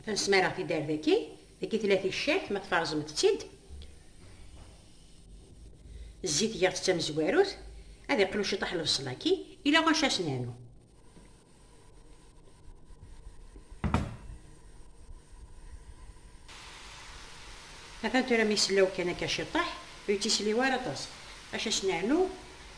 Atan smareɣ tidar daki, daki tella ticcert, ma tferẓemt-tt-id, zzit giɣ-tt d tamezwarut, ad iqlu ciṭaḥ lebṣel-agi, ila ɣac ad s-nernu. Atan tura mi sellaw kan akka ciṭaḥ, ur yettisliw ara aṭas, ɣac ad s-nernu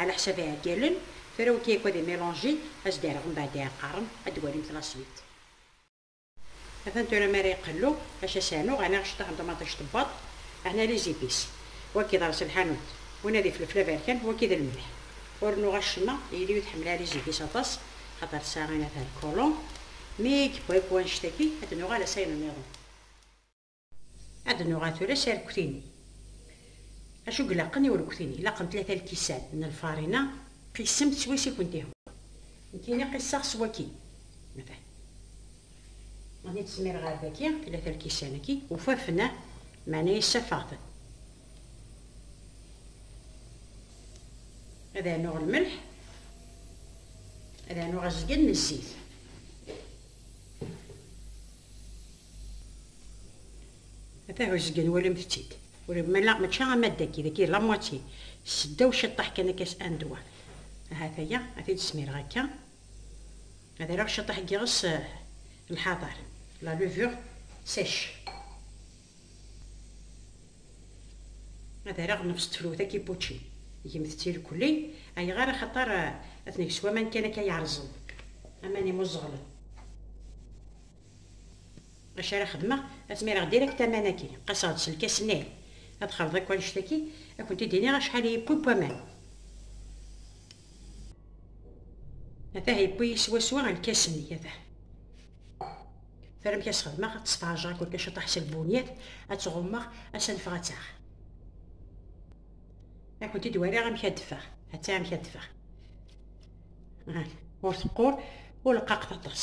Ɛla ḥsab iɛeggalen, tura wigi akk ad imilonji, ad s-d-irɣ mbeɛd iɛeqqaren, ad d-walimt la suite. Atan tura mi ara iqellu, acu ad s-rnuɣ, ɛni aceṭṭaḥ n ṭumaṭic tewweḍ, ɛni les épices. Wagi d aḍes n lḥanut, winna d ifelfel aberkan, wagi d lmelḥ. Ur rennuɣ acemma, yelli ur tḥemmel ara les épices aṭas, axaṭer tesɛa inat alcoolants. Mi i yewwa yewwa annect-agi, ad d-nuɣal a s ayen nniḍen. Ad nuɣal tura s arekti-nni. Acu ilaqen i urekti-nni? Ilaqen tlata lkisan n lfarina, qisem-t s wass i kent-ihwan. Nekkini qisseɣ s waki, matan. Mani tesmireɣ ar daki, tlata lkisan-agi, ufafen-a, meɛna yessafeɣ-ten. Ad rnuɣ lmelḥ, ad rnuɣ azgen n zzit. A tahuzga nwalamt-tt-id ur mala mačči am ad dagi dagi la moitié seddaw ciṭṭaḥ kan akka s un doigt ahat aya a t-id smireɣ akka ad areɣ ciṭṭaḥ n yiɣes lḥaḍer la levure sèche ad areɣ nefs tefrut a kippučči gemt-tt irkelli ayɣer axaṭer a t-neg s waman kan akka yerẓen aman imuẓeɣlen. Acu ara xedmeɣ, ad tmireɣ direct aman-agi. Qaseɣ-d s lkas-nni. Ad xalḍ akk annect-agi, ad kent-id-iniɣ acḥal i yewwi n waman. Atah yewwi-yi swaswa lkas-nni, atah. Tara amek ad s-xedmeɣ, ad tt-sferjeɣ akked kaciṭaḥ s lbunyat, ad tt-ɣummeɣ, ad s-anfeɣ ad taɣ. Ad kent-id-wariɣ amek ad d-teffeɣ. Atta amek ad d-teffeɣ. Ur teqqur, ur leqqaqet aṭas.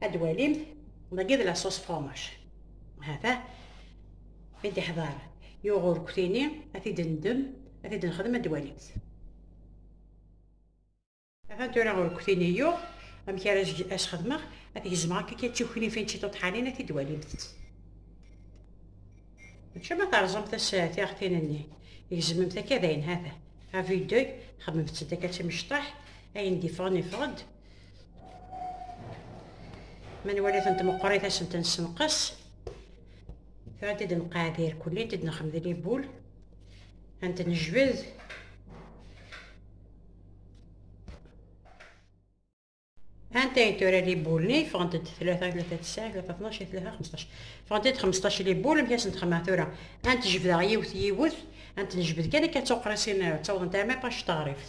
ad walimt dagi d la sauce fromage hata i d-iḥḍar yuɣ urkutini ad t-id-ndem ad t-id-nexdem ad walimt hata tura urkutini yuɣ amek ara as-xedmeɣ ad t-gezmeɣ akka kan d tiwknifin d tiṭuṭḥanin ad t-id-walimt mačči ma terẓamt as tiɣtin-nni gezmemt akka dayen hata à vue d'œil xedmemt-tt-id akka d timecṭaḥ ayen d-ifɣen ifɣen-d ma nwali-tent meqqrit ad sent-nessenqes tura-t-id nqeɛɛed irkelli id nexmed libul ad t-nejbed anta ay tura libul-nni ffɣent-d tlata tlata tesɛa tlata tnac tlata xmesṭac ffɣent-d xmesṭac libul amek ad sent-xemmeɛ tura ad t-jebdeɣ yiwet yiwet ad t-nejbed kan akka d tuqrisin ttawḍent arma ṭac teɣrift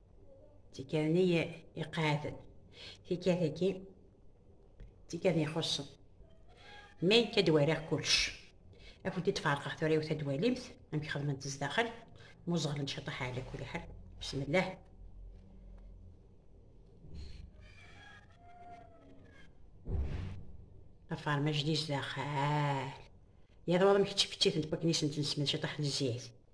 tikkal nni iqeɛɛden, tikkal-agi tikkal ixuṣṣen. Mi akka d-walaɣ kullec, ad kent-id-ferqeɣ tura yiwet ad d-walimt amek xedment zdaxel, muẓeɣlen ciṭaḥ ɛla kulli ḥal, bismillah. Afermaj di zdaxel, yal waḍ amek ttfettitent wakken i sent-nesmed ciṭaḥ n zzit.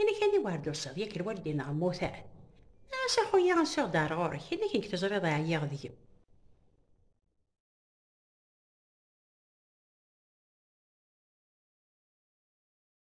Inek ad iwar d-tusiḍ, yak lwal d-ineɣ mmutar. Ɛas a xuya asuɣ-d ar ɣur-k, inek nek teẓriḍ ɛyiɣ deg-m.